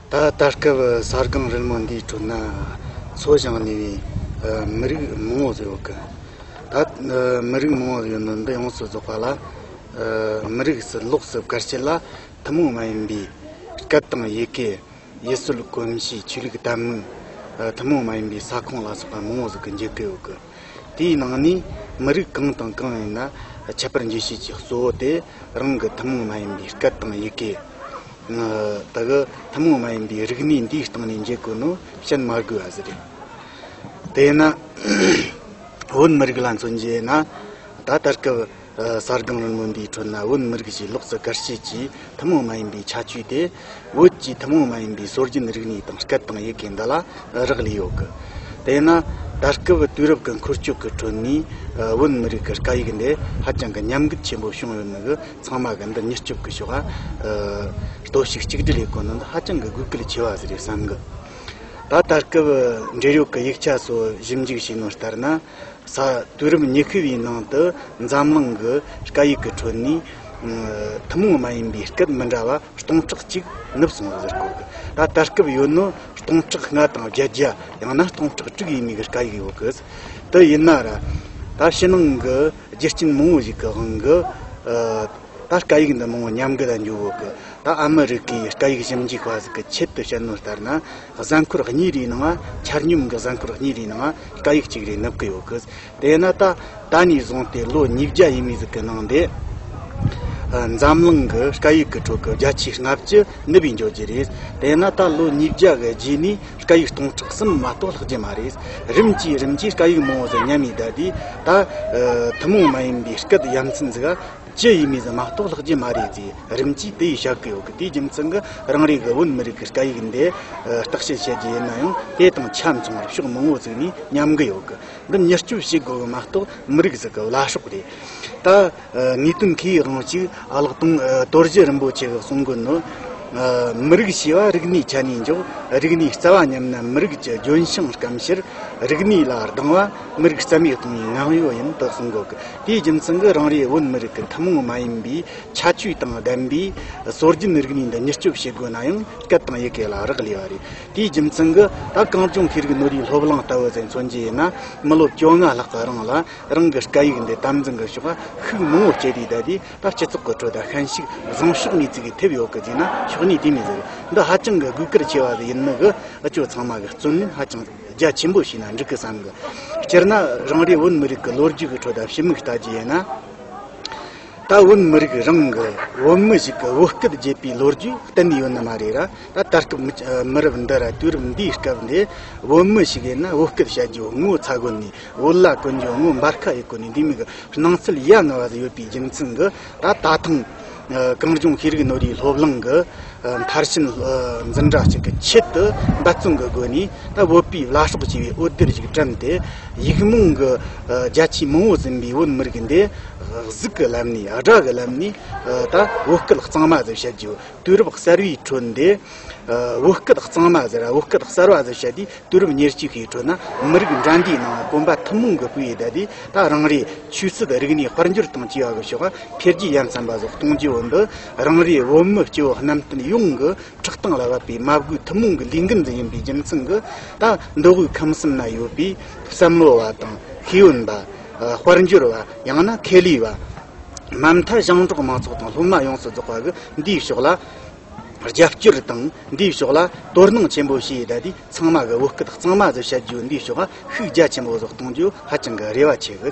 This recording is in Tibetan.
ད་ལྟ་སྐབས་ས་སྒང་རིལ་མོ་འདིའི་ཁྲོད་ན་འཚོ་བཞིན་གནས་པའི་མི་རིགས་མང་བོ་ཡོད་གི། ད་མི་རིགས་མང་བོ་ཡོད་མིན་པ་ཡོངས་སུ་རྫོགས་པ་ལ། མི་རིགས་སུ་ལོགས་སུ་བཀར་བྱས་ལ་ཐུན་མོང་མ་ཡིན་པའི་སྐད་དང་ཡི་གེ། ཡུལ་སྲོལ་གོམས་གཤིས་ཆོས་ལུགས་ལྟ་མུས། ཐུན་མོང་མ་ཡིན་པའི་ས་ཁོངས་ལ་སོགས་པ་མང་བོ་ཟུག་གི་འཇུག་གི་ཡོད་གི། དེའི་ནང་ནས་མི་རིགས་གང་དང་གང་ཡིན་ན་ཁྱད་པར་འཇུག་བྱེད་ཀྱི་གཙོ་བོ་དེ་རང་གི་ཐུན་མོང་མ་ཡིན་པའི་སྐད་དང་ཡི་གེ། དག་གི་ཐུན་མོང་མ་ཡིན་པའི་རིག་གནས་འདིའི་སྟེང་ནས་འཇུག་དགོས་ནོ་བཤད་མ་དགོས་བ་ཟི་རེད། དེས་ན་བོད་མི་རིགས་ལ་མཚོན་བྱས་ན་ད་ལྟར་སྐབས། གསར་སྒང་མི་མངོན་པའི་ཁྲོད་ན་བོད་མི་རིགས་ཀྱི་ལོགས་སུ་དགར་བྱེད་ཀྱི་ཐུན་མོང་མ་ཡིན་པའི་ཁྱད་ཆོས་དེ་བོད་ཀྱི་ཐུན་མོང་མ་ཡིན་པའི་སྲོལ་རྒྱུན་རིག་གནས་དང་སྐད་དང་ཡི་གེ་འདི་ལ་རག་ལས་ཡོད་གི། དེས་ན་ད་སྐབས་དུས་རབས་ཀྱི་འཁོར་སྐྱོད་ཀྱི་ཁྲོད་ནས་བོད་མི་རིགས་ཀྱི་སྐད་ཡིག་འདི་ཧ་ཅང་གི་ཉམས་རྒུད་ཆེན་པོ་བྱུང་ཡོད་ནི་གི་ཚང་མ་གི་འདི་མྱུར་སྐྱོབ་ཀྱི་ཕྱོགས་གཏོར་བཤིག་གཅིག་སྒྲིལ་ལས་དགོས་ནི་འདི་ཧ་ཅང་གི་དགོས་གལ་ཆེ་བ་ཞིག་རེད་བསམ་གི། ད་ད་སྐབས་འབྲེལ་ཡོད་ཀྱི་ཡིག་ཆ་སོགས་ཞིབ་འཇུག་བྱས་ནོར་ལྟར་ན། ས་དུས་རབས་ཉི་ཤུ་བའི་ནང་དུ་འཛམ་གླིང་གི་སྐད་ཡིག་གི་ཁྲོད་ནས་ཐུན་མོང་མ་ཡིན་པའི་སྐད་མི་འདྲ་བ་སྟོང་ཕྲག་གཅིག་ནུབ་སོང་ཟེར་གོ། ད་ལྟ་སྐབས་ཡོད་ནི་སྟོང་ཕྲག་ལྔ་དང་བརྒྱད་བརྒྱ་ཡང་ན་སྟོང་ཕྲག་དྲུག་ཡས་མས་ཀྱི་སྐད་ཡིག་ཡོད་གི། དེ་ཡིན་ན་ར་ད་ཕྱི་ནང་གི་རྒྱུ་རྐྱེན་མང་བོ་ཞིག་གི་དབང་གིས་ད་སྐད་ཡིག་འདི་མང་བོ་ཉམས་རྒུད་ལ་འགྱུར་ཡོད་གི། ད་ཨ་མི་རི་ཀའི་སྐད་ཡིག་ཞིབ་འཇུག་པ་ཞིག་གི་ཆེད་དུ་བཤད་ནོར་ལྟར་ན། གཟའ་འཁོར་གཉིས་རེའི་ནང་ཆར་སྙོམས་ཀྱི་གཟའ་འཁོར་གཉིས་རེའི་ནང་སྐ་ཡིག་གཅིག་རེ་ནུབ་ཀྱི་ཡོད་གི། དེས་ན་ད་ལྟ་ནས་བཟུང་སྟེ་ལོ་ཉིས་བརྒྱ་ཡས་མས་ཟིག་གི་ནང་དེ། འཛམ་གླིང་གི་སྐ་ཡིག་གི་ཁྲོད་ཀྱི་རྒྱ་ཆེའི་ལྔ་བཅུ་ནུབ་པའི་འབྱོར་གྱི་རེད། དེས་ན་ད་ལོ་ཉིས་བརྒྱ་གི་རྗེས་ནས་སྐ་ཡིག་སྟོང་ཕྲག་གསུམ་མ་གཏོགས་ལྷག་གྱི་མ་རེད། རིམ་གྱིས་རིམ་གྱིས་སྐ་ཡིག་མང་བོ་ཟིག་ཉམས་མི་བདའ་དུས་ད། ཐུན་མོང་མ་ཡིན་པའི་སྐད་དབྱངས་ཚིག་འཛུགས། ཅི་ཡིན་མིན་མ་རྟོགས་ལྷག་རྒྱུ་མ་རེད་ཅེས་རིམ་གྱིས་དེ་ཡིས་བཤད་ཀི་ཡོད་གི་དེའི་རྒྱུ་མཚན་གྱིས་རང་རེའི་བོད་མི་རིགས་ཀྱི་སྐད་ཡིག་འདི་བརྟག་དཔྱད་བྱེད་རྒྱུ་ཡིན་ན་ཡང་དེ་དང་ཆ་མཚུངས་པར་ཕྱོགས་མང་བོ་བརྩིས་ནས་ཉམས་གི་ཡོད་གི་འདི་མྱུར་སྐྱོབ་བྱེད་དགོས་གི་མ་རྟོགས་མི་རིགས་ཟིག་གི་བླ་ཕྱོགས་རེད་ད། དངོས་དོན་གི་དབང་ཅིག་ཀློག་དང་དོར་རྒྱུ་རིན་པོ་ཆེ་གི་གསུང་དགོས་ནི། མི་རིགས་ཞེས་པ་རིག་གནས་ཆ་ནས་འཇོག་རིག་གནས་རྩ་བ་ཉམས་ན་མི་རིགས་ཀྱི་ལྗོན་ཤིང་སྐམ་ཕྱིར། རིག་གནས་ལ་སྡང་བ་མི་རིགས་རྩ་མེད་གཏོང་བའི་ངག་ཡོད་ཡིན་དུ་གསུང་དགོས་གི། དེའི་རྒྱུ་མཚན་གྱིས་རང་རེའི་བོད་མི་རིགས་ཀྱི་ཐུན་མོང་མ་ཡིན་པའི་ཁྱད་ཆོས་དང་ལྡན་པའི་སྲོལ་རྒྱུན་རིག་གནས་འདི་མྱུར་སྐྱོབ་བྱེད་དགོས་ན་ཡང་སྐད་དང་ཡི་གེ་ལ་རག་ལས་པ་རེད། དེའི་རྒྱུ་མཚན་གྱིས་ད་གངས་ལྗོངས་ཤེས་རིག་ནོར་བུའི་སློབ་གླིང་ལྟ་བུ་དེ་མཚོན་རྒྱུ་ཡིན་ན་མི་སློབ་བཅོ་ལྔ་ལྷག་གི་རིང་ལ་རང་གི་སྐད་ཡིག་འདི་དམ་འཛིན་གྱི་ཕྱོགས་ཤུགས་མང་བོ་བསྐྱེད་དེ་བསྡད་དེ་ད་སྤྱི་ཚོགས་ཀྱི་ཁྲོད་ད་ཤན་ཞིག་བཟང་ཕྱོགས་ངེས་ཚིག་གིས་ཐེབས་ཡོད་གི་བརྗེད་ན་ཆོག་ཉིད་དེ་མི་ཟེར་འདི་ཧ་ཅང་གི་གུས་བཀུར་ཆེ་བ་ཞིག་ཡིན་ནི་གི་ཨ་ཅོ་ཚང་མ་གི་བརྩོན་ལེན་ཧ་ཅང་རྒྱ་ཆེན་པོ་ཞིག་ན་འགྲིག་གི་བསམ་གི། སྤྱིར་ན་རང་རེའི་བོད་མི་རིགས་ཀྱི་ལོ་རྒྱུས་ཀྱི་ཁྲོད་དུ་ཕྱི་མིག་ལྟ་རྒྱུ་ཡིན་ན། ད་བོད་མི་རིགས་རང་གི་བོད་མི་ཞིག་གི་བོད་སྐད་བརྗེད་པའི་ལོ་རྒྱུས་གཏན་ནས་ཡོད་ནི་མ་རེད་ར། ད་ལྟ་སྐབས་མི་རབས་འདི་ར་དུས་རབས་འདིའི་སྐབས་འདི་བོད་མི་ཞིག་ཡིན་ན་བོད་སྐད་བཤད་རྒྱུ་ངོ་ཚ་དགོས་ནས་བོད་ལྭ་གོན་རྒྱུ་ངོ་འབར་ཁ་ཡི་གོ་ནས་འདི་མིག་གི་སྣང་ཚུལ་ཡ་ང་བ་ཞིག་ཡོད་པའི་རྒྱུ་མཚན་གྱིས། ད་ད་ཐེངས་གངས་ལྗོངས་ཤེས་རིག་ནོར་བུའི་སློབ་གླིང་གི་མཐར་ཕྱིན་འཛིན་གྲྭ་གཅིག་གི་ཆེད་དུ་འབད་བརྩོན་གྱི་སྒོ་ནས་ད་བོད་པའི་བླ་སྲོག་ཅེས་པའི་འོད་སྡེར་ཞིག་བཀྲམ་སྟེ་ཡིག་རྨོངས་ཀྱི་རྒྱ་ཆེའི་མང་བོ་ཟིན་པའི་བོད་མི་རིགས་འདི་གཟུགས་ཀྱི་ལམ་ནས་དགྲ་གི་ལམ་ནས་ད་བོད་སྐད་གཙང་མ་ཟེར་བྱེད་ཀྱི་དུས་རབས་གསར་བའི་ཁྲོད་འདི། བོད་སྐད་གཙང་མ་ཟེར་བོད་སྐད་གསར་བ་ཟེར་བྱས་དུས་དུས་རབས་ཉེར་གཅིག་གི་ཁྲོད་ན་མི་རིགས་འདྲ་འདྲའི་ནང་དཀོན་པ་ཐུན་མོང་གི་སྤུས་ཡིས་བསྡད་དེ་ད་རང་རེའི་ཆོས་སྲིད་རིག་གནས་དཔལ་འབྱོར་དང་སྤྱི་བ་གི་ཕྱོགས་ཁ་འཕེལ་རྒྱས་ཡ་མཚན་པ་ཟོག་གཏོང་སྐྱེ་བོ་འདི་རང་རེའི་བོད་མི་སྐྱེ་བོ་གནམ་བསྟན་ཡོངས་ཀྱི་ཁྲག་རྟིང་ལ་བབས་པའི་མ་བསྒོས་ཐུན་མོང་གི་ལས་འགུལ་འདི་ཡིན་པའི་རྒྱུ་མཚན་གྱིས་ད་འདི་དབུས་ཁམས་གསུམ་ན་ཡོད་པའི་བསམ་བློ་བ་དང་ཤེས་ཡོན་པ། དཔལ་འབྱོར་བ་ཡང་ན་ཁེ་ལས་བ། མ་མཐའ་ཞིང་འབྲོག་མང་ཚོགས་དང་སློབ་མ་ཡོངས་སུ་རྫོགས་པ་གི་འདིའི་ཕྱོགས་ལ། རྒྱབ་སྐྱོར་དང་འདིའི་ཕྱོགས་ལ་དོ་སྣང་ཆེན་པོ་བྱེད་ད་དུས་ཚང་མ་གི་བོད་སྐད་གཙང་མ་བཟོ་བྱ་རྒྱུ་འདིའི་ཕྱོགས་ཤུགས་རྒྱ་ཆེན་པོ་བཟོ་གཏོང་རྒྱུ་ཧ་ཅང་གི་རེ་བ་ཆེ་གི།